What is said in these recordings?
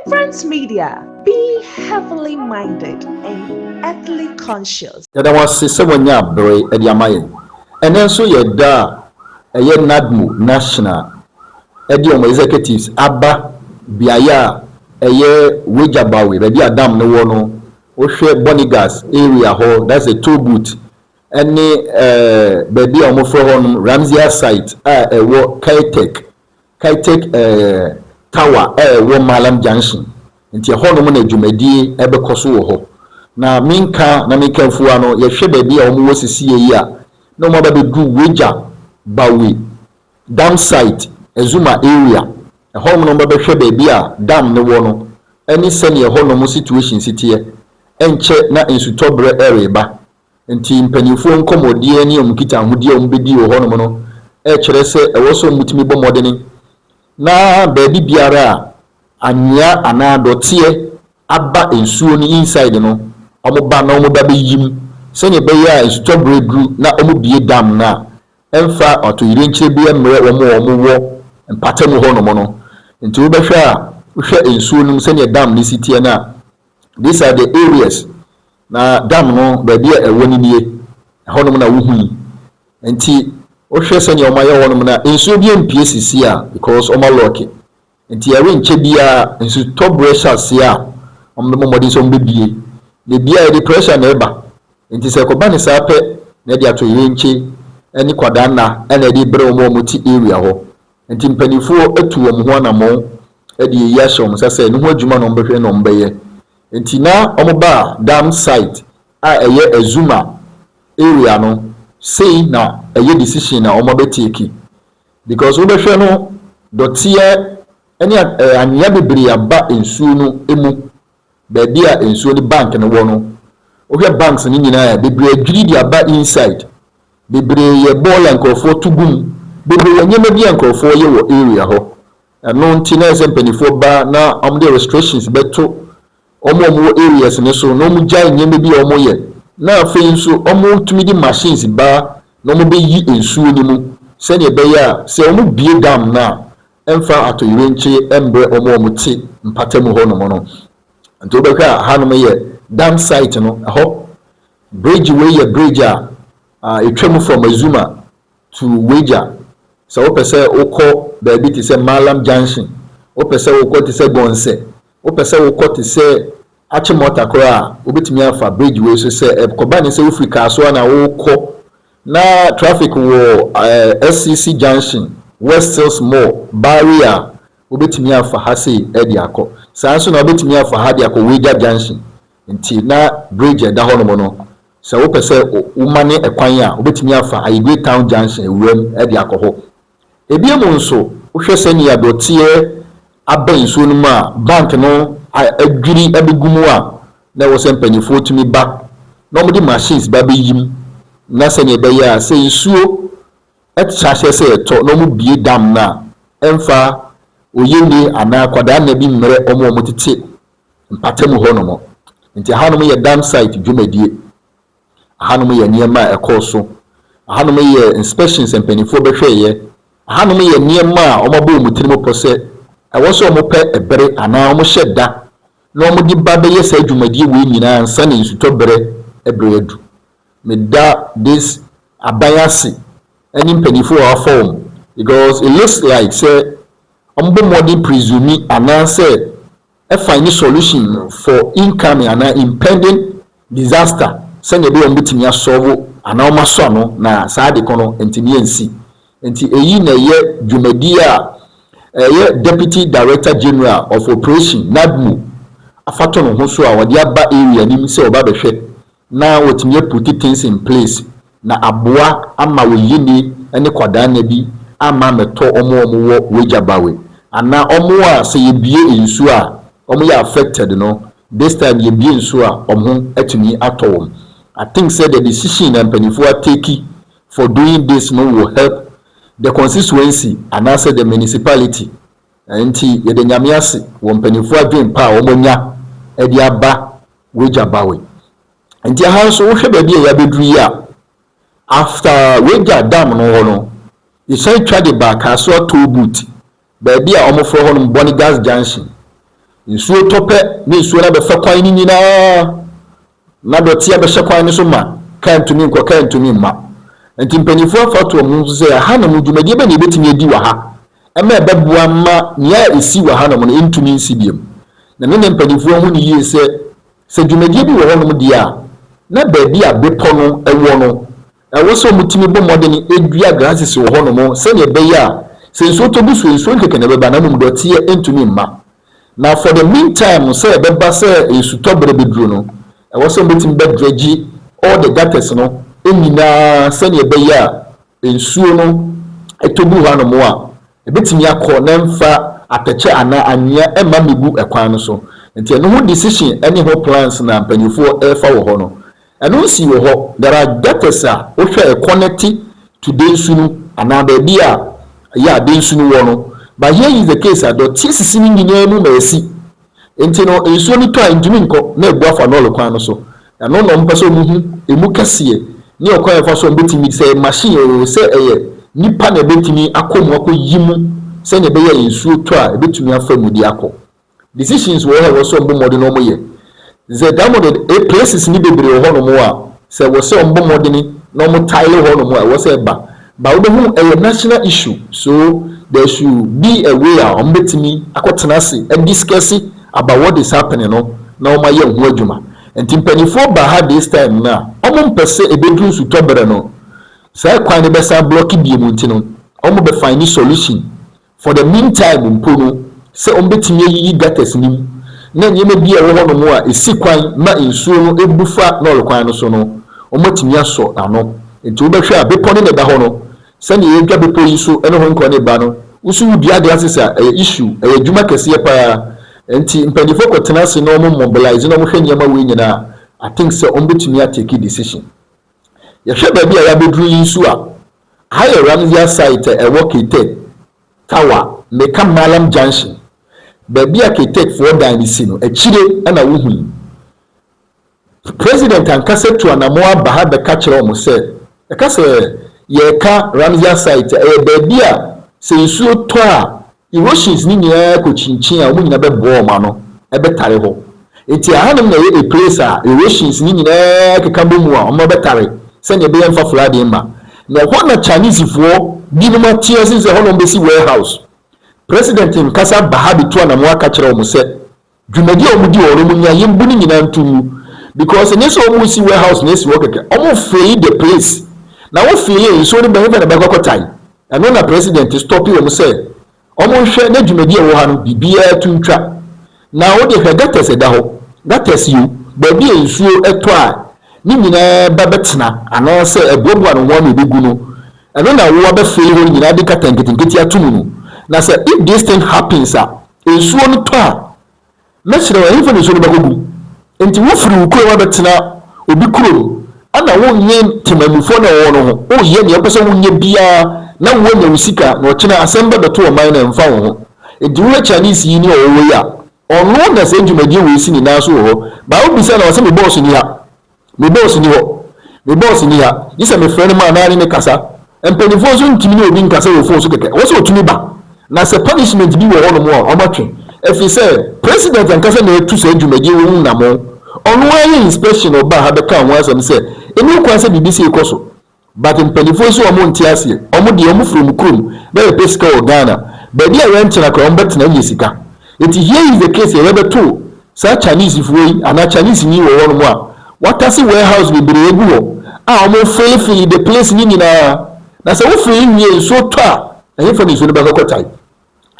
Vibrant Media, be heavenly minded and earthly conscious. Yɛda wo ase sɛ woanya bere de ama yɛn. Ɛnnɛ nso yɛ da a ɛyɛ NADMO National de wɔn executives aba beaeɛ a ɛyɛ Wejabawe, baabi a dam no wɔ no. Wohwɛ Bonigas area hɔ, that's the toll booth, ɛne ɛɛ baabi a wɔfrɛ hɔnom Ramsey Site a ɛwɔ Kaitech Kytek Tower a ɛwɔ Mallam Junction, nti ɛhɔnom na dwumadie bɛkɔ so wɔ hɔ. Na me nka na me kanfua no, yɛhwɛ baabi a wɔwɔ sesiei yi a, na wɔn aba bɛduru Weija, Bawe, Dam Site, Azuma Area. Ɛhɔnom na wɔba bɛhwɛ baabi a dam no wɔ no ne sɛdeɛ ɛhɔnom situation si teɛ. Ɛnkyɛ na nsutɔberɛ reba, Enti mpanimfoɔ nkɔmmɔdie ne wɔn nkitaahodie a wɔbɛdi wɔ hɔnom no kyerɛ sɛ ɛwɔ sɛ wɔtumi bɔ mmɔdene na baabi biara a anwea anaa dɔteɛ aba nsuo no inside no, wɔba na wɔba bɛyi mu sɛdeɛ ɛbɛyɛ a nsutɔ berɛ duru na wɔbue dam no a, ɛmfa atoyerɛnkyerɛ biara mmrɛ wɔn a wɔwɔ mpata mu hɔnom no. Enti wobɛhwɛ a, wohwɛ nsuo no mu sɛdeɛ dam no si teɛ no a, these are the areas Na dam no baabi a ɛwɔ no nie, ɛhɔnom na wohui. Enti wohwɛ sɛnea wɔayɛ hɔnom no a, nsuo biara mpue seesei a because wɔalɔɔke. Enti ɛrenkyɛ biara nsutɔberɛ hyɛ aseɛ a, wɔbɛbɔ mmɔden sɛ wɔbɛbue. Na ebiara yɛde pressure na ɛba. Enti sɛ ɛkɔba no saa pɛ na ɛde atoyerɛnkye ne kwadanna na ɛde rebrɛ wɔn a wɔte area hɔ. Enti mpanimfoɔ atu wɔn ho anammɔn de ayi ahyɛ wɔn nsa sɛ ɛno ho adwuma na wɔbɛhwɛ na wɔbɛyɛ. Nti na ɔmo ba dam site a ɛyɛ Azuma area no sei na ɛyɛ decision a ɔmo bɛ take because wo bɛhwɛ no dɔteɛ ɛne anwea bebree aba nsuo no ɛmu baabi a nsuo no bank no wɔ no wo hwɛ banks no nyinaa a bebree adwiri de aba inside bebree yɛ bɔɔla nkorɔfoɔ to gu mu bebree yɛ nneɛma bi a nkorɔfoɔ yɛ wɔ area hɔ Ɛno nti na ɛsɛ sɛ mpaninfoɔ ba na wɔn de restrictions bɛto wɔn a wɔn wɔ areas no so na wɔn gyae nneɛma bi a wɔn yɛ na afei nso wɔn tumi de machines ba na wɔn bɛ yi nsuo no mu sɛdeɛ ɛbɛyɛ a sɛ wɔn bue dam no a ɛmfa atoyerenkye mbrɛ wɔn a wɔn te mpata mu hɔ nom no nti wo bɛhwɛ a ha nom yɛ dam site no ɛhɔ bridge wei yɛ bridge a ɛtwa mu from azuma to wagya sɛ wopɛ sɛ wokɔ baabi te sɛ Mallam Junction, wopɛ sɛ wokɔ te sɛ Gonsɛ, wopɛ sɛ wokɔ te sɛ Achimota koraa a, wobɛtumi afa bridge wei so sɛ ɛkɔba ne sɛ wofiri Kasoa na worekɔ na traffic wɔ SCC Junction, West Hills Mall, Barry a, wobɛtumi afa ha sei de akɔ. Saa nso na wobɛtumi afa ha de akɔ Wagya Junction. Enti na bridge a ɛda hɔnom no, sɛ wopɛ sɛ womane kwan a, wobɛtumi afa Ayigwe Town Junction wuram de akɔ hɔ. Ebiem nso, wohwɛ sɛnea dɔteɛ abɛn nsuo no mu a bank no adwiri abɛgu mu a, na ɛwɔ sɛ mpanimfoɔ tumi ba na wɔde machines ba bɛyi mu na sɛnea ɛbɛyɛ a sɛ nsuo ahyɛ sɛ ɛtɔ na wɔbue dam no a, ɛmfa oyenie anaa akwadaa nna bi mmrɛ wɔn a wɔtete mpatamu hɔnom. Nti ahanom yɛ dam site dwumadie, ahanom yɛ nneɛma a ɛkɔɔ so, ahanom yɛ inspections a mpaninfoɔ bɛhwɛeɛ, ahanom yɛ nneɛma a wɔabɔ wɔn tiri mu pɔ sɛ ɛwɔ sɛ wɔpɛ ɛbere anaa wɔhyɛ da na wɔde ba bɛyɛ saa dwumadie wei nyinaa ansa na nsutɔ berɛ ɛbere adu. Meda this aban ase ɛne mpaninfoɔ a wɔafa wɔn because it looks like sɛ wɔbɔ mmɔden presume anaa sɛ find solution for incoming anaa impending disaster sɛnea ɛbɛyɛ a wɔbɛtumi asɔlvo anaa wɔasɔ ano na saa ade ko no ntumi ansi. Nti eyi na ɛyɛ dwumadie a ɛyɛ Deputy Director General of Operation, NADMO, afatonoho so a wɔde aba area no mu sɛ wɔba bɛhwɛ na wɔatumi a puti things in place na aboa ama wo yini ne kwadaa nna bi amma ammɛtɔ wɔn a wɔn wɔ w'agya bawe anaa wɔn a sɛ yɛ bue nsuo a wɔn yɛ affected no this time yɛ bue nsuo a wɔn ho atumi atɔ wɔn I think sɛ the decision a mpaninfoɔ a take for doing this no will help the constituency anaa sɛ the municipality nti yɛda Nyame ase wɔ mpaninfoɔ adwen pa a wɔn anya de aba Wagya Bowen. Nti aha nso wohwɛ baabi a yɛabɛduru yi a, after Wagya dam no hɔ no, yɛsan twa de baa Kasoa Toll Booth, baabi a wɔfrɛ hɔ nom Bonny Gas Junction. Nsuo tɔ pɛ na nsuo no abɛfa kwan no nyinaa, na dɔteɛ abɛhyɛ kwan no so ma, kaa ntumi nkɔ, kaa ntumi mma. Nti mpaninfoɔ afa ato wɔn ho so sɛ, aha nom, dwumadie bɛn na yɛbɛtumi adi wɔ ha ma ɛbɛboa ma nea esi wɔ hanom no ntumi nsi bio. Na me ne mpanyimfo ahu no yiye sɛ, sɛ dwumadi bi wɔ hɔnom di a, na baabi a bepɔ no wɔ no, ɛwɔ sɛ wɔtumi bɔ mmɔden dua grasses wɔ hɔnom sɛnea ɛbɛyɛ a sɛ nsuo tɔ gu so a, nsuo nkekene bɛba na mmom dɔteɛ ntumi mma. Na for the meantime no, sɛ ɛbɛba sɛ nsutɔ bere bɛduru no, ɛwɔ sɛ wɔbɛtumi bɛdredge all the gutters no nyinaa sɛnea ɛbɛyɛ a Nsuo no tɔ gu hɔanom a, ɛbɛtumi akɔ na ɛmfa atɛkyɛ anaa anwea mma mmɛgu kwan no so. Nti ɛno ho decision ne ho plans na mpaninfoɔ refa wɔ hɔ no. Ɛno nsii wɔ hɔ. There are gutters a wohwɛ a connect to Densu no anaa baabi a yeah Densu no wɔ no but here is the case a dɔteɛ sisi ne nyinaa mu ma ɛsi Enti no, nsuo no tɔ a ɛntumi nkɔ na abu afa lɔre kwan no so. Ɛno na wɔpɛ sɛ wɔhu ɛmu kɛseɛ ne ɔkwan a ɛfa so a wɔbɛtumi, sɛ ɛyɛ machine oo, sɛ ɛyɛ nipa na ɛbɛtumi akɔ mu akɔyi mu sɛdeɛ ɛbɛyɛ a nsuo tɔ a ɛbɛtumi afa mu de akɔ. Decisions wɔ hɔ a ɛwɔ sɛ wɔbɔ mmɔden na wɔyɛ. Dze dɛm no de, places ne beberee wɔ hɔnom a sɛ wɔ sɛ ɔmbɔ mbɔdzen na ɔmo tile hɔnom a ɛwɔ sɛ ɛba. But wobehu ɛyɛ national issue so there should be a way a ɔmo betumi akɔ tsena ase adiscusse about what is happening no na ɔmo ayɛ ho adwuma. Ntsi mpanyinfoɔ ba ha this time no a ɔmo mmpɛ sɛ ebedu nsutɔber no saa kwan no bɛsan blocke bio mu ntsi no ɔmo bɛ fine solution For the meantime mpo no, sɛ wɔbɛtumi ayiyi gutters no mu na nneɛma bi a ɛwɔ hɔnom a ɛsi kwan ma nsuo no bu fa lɔre kwan no so no, wɔatumi asɔ ano. Enti wobɛhwɛ a, bepɔ no na ɛda hɔ no, sɛdeɛ yɛdwa bepɔ yi so ne Hong Kong no ba no, wo nso wodua glasses a, ɛyɛ issue, ɛyɛ adwuma kɛseɛ pa ara. Enti mpanimfoɔ kɔtena ase na wɔmobilise na wɔhwɛ nneɛma wei nyinaa a, I think sɛ wɔbɛtumi atake decision. Yɛhwɛ baabi a yɛabɛduru yi nso a, Aha yɛ Ramziya site a ɛwɔ Kiteck, Tawa, Meka Mallam Junction, baabi a Kiteckfoɔ dan no si no, akyire na wohu yi. President ankasa tu anamɔn aba ha bɛka kyerɛ wɔn sɛ, ɛka sɛ, Yɛreka Ramziya site a, ɛyɛ baabi a sɛ nsuo tɔ a, Iroshins no nyinaa kokyinkyin a wɔn nyinaa bɛboa wɔn ano bɛtare hɔ. Enti ɛhanom na ɛyɛ a place a Iroshins no nyinaa keka bɔ mu a wɔn bɛtare sɛnea ɛbɛyɛ mfa fura ade mma. Na ɛhɔ na Chinesefoɔ binom ate ase sɛ ɛhɔ na wɔbɛsi warehouse. President Nkasa Bahabi tu anamɔn aka kyerɛ wɔn sɛ. Dwumadi a wɔdi wɔ hɔ no wɔn nya yɛn bu no nyinaa nto mu because ɛnyɛ sɛ wɔn resi warehouse na asi hɔ kɛkɛ wɔn fili the place na wo fili a nsuo no ba hefa na bɛkɔ akɔ tae ɛno na president stop wɔn sɛ wɔn nhwɛ na dwumadi a ɛwɔ ha no biribiara to ntwa na wo de hwɛ gutters ɛda hɔ gutters yi o baabi a nsuo ɛtɔ a ne nyinaa ba bɛtena anaa sɛ ɛboaboa no ho ano ɛbɛgu no ɛno na wo abɛfili hɔ no nyinaa de kata nketenkete ato mu no na sɛ if this thing happens a Nsuo no tɔ a, mɛsrɛ wo, ɛhefa na nsuo no bɛkɔgu? Enti wofiri wo kurom abɛtena obi kurom, ɛna wonnwen temanmufoɔ no a ɛwɔ hɔ no ho, woyɛ deɛ wopɛ sɛ woyɛ biara na woanya wo sika, na ɔkyena asɛm bɛbɛto ɔman no a, ɛmfa wo ho. Enti wohwɛ Chinese yi ne ɔwɔ hɔ yi a, ɔno na saa dwumadie wei si ne nan so wɔ hɔ, but wobisa no a, ɔse me boss nni ha. Me boss nni hɔ, me boss nni ha, gye sɛ mefrɛ no ma anaa ne no kasa. Mpanimfoɔ nso ntumi ne obi nkasa wɔ fon so kɛkɛ, ɛwɔ sɛ wɔtumi ba. Na sɛ punishment bi wɔ hɔnom a, wɔatwe, ɛfiri sɛ President ankasa na atu saa dwumadie wei ho nnamɔn. Ɔno ara yɛɛ inspection na ɔbaa ha bɛkaa ho asɛm sɛ ɛnni ho kwan sɛ biribi sei kɔ so. But mpaninfoɔ yi so wɔn nte aseɛ wɔn deɛ wɔn firi wɔn kurom bɛbɛ pɛ sika wɔ Ghana baabi a yɛn tena koraa wɔn bɛ tena nyɛ sika nti here is the case yɛ bɛ bɛ to saa Chinese foɔ yi anaa Chinese ni wɔ hɔ nom a watase warehouse bebree agu hɔ a wɔn fili fili the place ne nyinaa na sɛ wo fili nwie nsuo tɔ a ɛhefa ne nsuo no bɛ kɔ kɔ tae.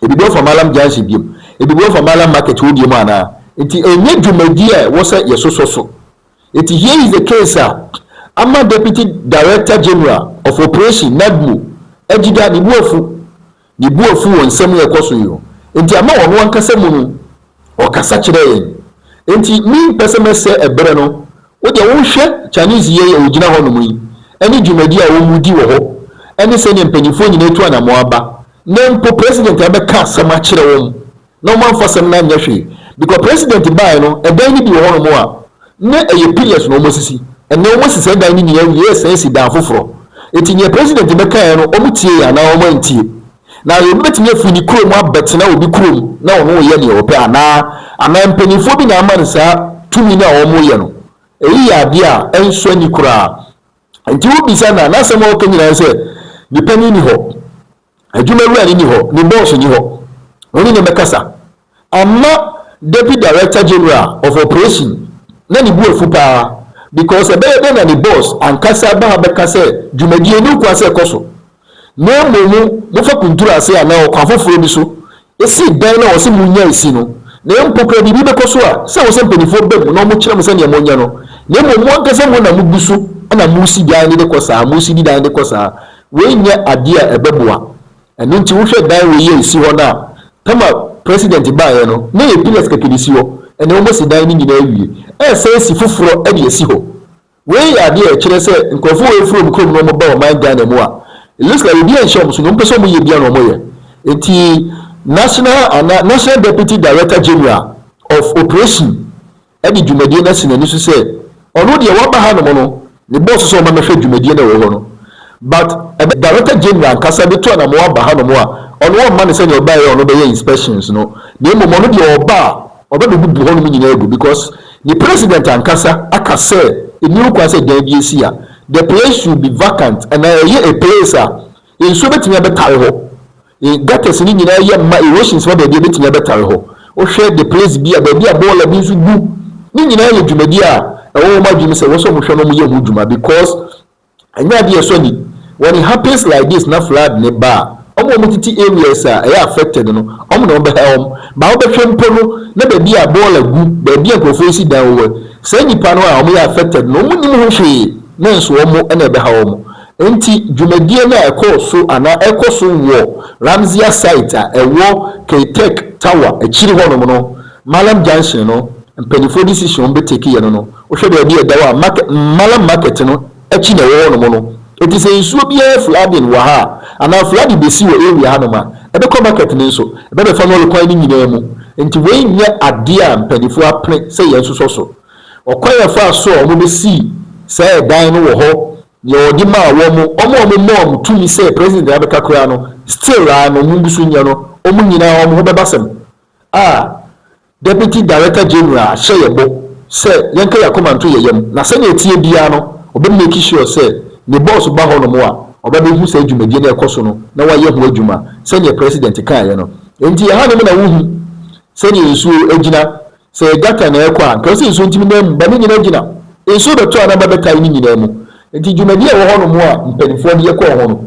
Ebibu afa Mallam Junction biom, ebibu afa Mallam Market hɔ biom anaa? Nti ɛnyɛ dwumadie a ɛwɔ sɛ yɛsosɔ so. Nti here is the case a ama Deputy Director General of Operation, NADMO, Agyida, ne bo afu. Ne bo afu wɔ nsɛm a ɛkɔ so yi ho. Nti ama ɔno ankasa mu no Ɔkasa kyerɛɛ yɛn. Enti mempɛ sɛ mɛsɛe bere no. Wo deɛ wohwɛ Chinese yei a ɔgyina hɔnom yi ne dwumadi a wɔdi wɔ hɔ ne sɛdeɛ mpanimfoɔ nyinaa atu anammɔn aba na mpo President abɛka asɛm akyerɛ wɔn na wɔamfa asɛm no anyɛ hwee because President baeɛ no ɛdan no bi wɔ hɔnom a na ɛyɛ pillars na wɔasisi ɛnnɛ wɔasi saa dan no nyinaa awie ɛresan asi dan foforɔ. Enti deɛ President bɛkaeɛ no wɔtiee anaa wɔantie? Na obi betumi afi ne kurom abɛtena obi kurom na ɔne wɔn yɛ nea ɔpɛ anaa? Anaa mpanimfoɔ bi na ama no saa tumi no a wɔyɛ no? Eyi yɛ adeɛ a ɛnsɔ ani koraa. Enti wobisa no a, n'asɛm a ɔka nyinaa ne sɛ, Ne panin nni hɔ, adwumawura no nni hɔ, ne bɔɔso nni hɔ, ɔne no mmɛkasa. Ama Deputy Director General of Operation no ne bo afu paa because ɛbɛyɛ dɛn na ne boss ankasa ba ha bɛka sɛ dwumadie yi nni kwan sɛ ɛkɔ so na mmom mofa kunturu ase anaa ɔkwan foforɔ bi so si dan no a ɔse monnya esi no na mpo koraa biribi bɛkɔ so a sɛ ɛwɔ sɛ mpaninfoɔ ba mu na wɔkyerɛ mo sɛdeɛ monyɛ no na mmom mo ankasa mo na mogu so na mosi dan no de kɔ saa mosi di dan de kɔ saa wei nyɛ adeɛ a ɛbɛboa Ɛno nti wohwɛ dan wei a ɛsi hɔ no a, Tama president baeɛ no, na ɛyɛ pillars kɛkɛ na ɛsi hɔ, ɛnnɛ wɔasi dan no nyinaa awie, ɛresan asi foforɔ de asi hɔ. Wei yɛ adeɛ a ɛkyerɛ sɛ nkurɔfoɔ wei firi wɔn kurom na wɔba ɔman Ghana mu a, it looks like obiara nhyɛ wɔn so, deɛ wɔpɛ sɛ wɔyɛ biara na wɔyɛ. Nti National anaa National Deputy Director General of Operation, de dwumadie no asi n'ani so sɛ ɔno deɛ waba hanom no ne boss sɛ ɔma mɛhwɛ dwumadie no a ɛwɔ hɔ no but ɛbɛyɛ Director General ankasa bɛtu anamoa aba hanom a ɔno ɔmma no sɛdeɛ ɔbaeɛ a ɔno bɛyɛ inspections no na mmom ɔno deɛ ɔba a ɔbɛbɛbubu hɔnom nyinaa agu because ne President ankasa aka sɛ ɛnni ho kwan sɛ dan bi si a the place should be vacant anaa ɛyɛ a place a nsuo bɛtumi abɛtae hɔ E Gutters no nyinaa yɛ ma erosions ma baabi a ebetumi abɛtare hɔ. Wohwɛ the place bi a, baabi a bɔɔla bi nso gu, ne nyinaa yɛ dwumadi a ɛwɔ wɔn adwene mu sɛ ɛwɔ sɛ wɔhwɛ na wɔyɛ ho dwuma because ɛnyɛ ade a ɛsɔ ani. When it happens like this na flood no ba a, wɔn a wɔtete areas a ɛyɛ affected no, wɔn na wɔbɛha wɔn. But wobɛhwɛ mpo no na baabi a bɔɔla gu, baabi a nkurɔfoɔ resi dan wɔ, saa nnipa no a wɔyɛ affected no, wɔnnim ho hwee na nso wɔn na ɛbɛha wɔn. Enti dwumadie no a ɛkɔɔ so anaa ɛkɔ so wɔ Ramziah Site a ɛwɔ K-Tech Tower akyiri hɔnom no, Mallam Junction no, mpaninfoɔ decision a wɔn bɛ take yɛ no no, wohwɛ baabi a ɛda hɔ a market, Mallam Market no akyi na ɛwɔ hɔnom no. Enti sɛ nsuo biara flooding wɔ ha a, anaa flooding bɛsi wɔ area hanom a, ɛbɛkɔ market no nso, ɛbɛbɛfa no lɔre kwan no nyinaa mu. Enti wei nyɛ adeɛ a mpaninfoɔ apene sɛ yɛnsosɔ so. Ɔkwan a ɛfaa so a wɔn bɛsii saa ɛdan no wɔ hɔ Deɛ ɔde maa wɔn, wɔn a wɔn maa wɔn tumi sɛ president de abɛka koraa no still ara no wɔn gu so nyɛ no, wɔn nyinaa wɔn ho bɛba sɛm a Deputy Director General hyɛ yɛ bɔ sɛ yɛnka yɛ akoma nto yɛ yam na sɛdeɛ ɛteɛ biara no ɔbɛ make sure sɛ ne boss ba hɔ nom a ɔbɛbɛ hu saa dwumadie no a ɛkɔ so no na wayɛ ho adwuma sɛdeɛ president kaeɛ no. Nti ɛha nom na wohu sɛdeɛ nsuo agyina Sɛ yɛ gutter na ɛrekɔ a, nka ɔsɛ nsuo ntumi nan mu, ba ne nyinaa gyina nsuo bɛtɔ a na ba bɛtae ne nyinaa mu. Nti dwumadie a ɛwɔ hɔ nom a mpaninfoɔ de yɛ kɔɔ ho no,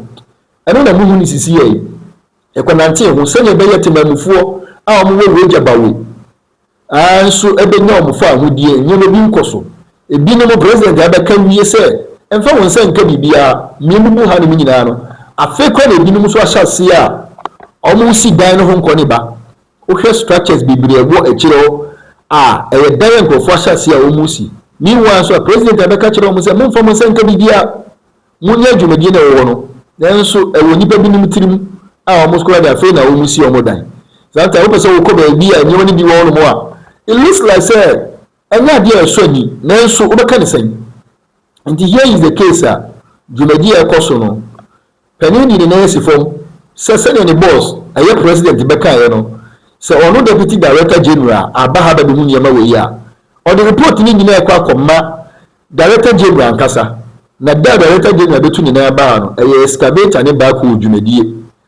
ɛno na mohu ne sisi yɛe. Yɛ kɔ nantee ho sɛdeɛ ɛbɛyɛ temanmufoɔ a wɔn wɔ Weija Bawe aa nso bɛnya wɔn faahodie, nneɛma bi nkɔ so. Ɛbi nom President abɛka awie sɛ ɛmfa wo nsa nka biribiara, mmie mo mu ha nom nyinaa no, afei koraa na ɛbi nom nso ahyɛ aseɛ a wɔn resi dan no ho nkɔ ne ba. Wohwɛ structures bebree a ɛwɔ akyire hɔ a, ɛyɛ dan a nkurɔfoɔ ahyɛ aseɛ a wɔresi. Meanwhile nso a, President a bɛka kyerɛ wɔn sɛ mommfa mo nsa nka biribiara, monyɛ adwumadie no a ɛwɔ hɔ no, nanso ɛwɔ nnipa binom tirim a wɔkora de afei na wɔsi wɔn dan. Sometimes wopɛ sɛ wokɔ baabi a nneɛma no bi wɔ hɔnom a, it looks like sɛ Ɛnyɛ ade a ɛsɔ ani, nanso wobɛka no sɛn? Enti here is the case a dwumadi a ɛkɔ so no, panin de ne nan asi fam sɛ sɛnea ne boss a ɛyɛ president bɛkaeɛ no, sɛ ɔno deputy director general aba ha bɛbɛhu nneɛma wei a, ɔde report no nyinaa kɔ akɔma director general ankasa, na da a director general bɛtu ne nan aba ha no, ɛyɛ excavator ne back hole dwumadie.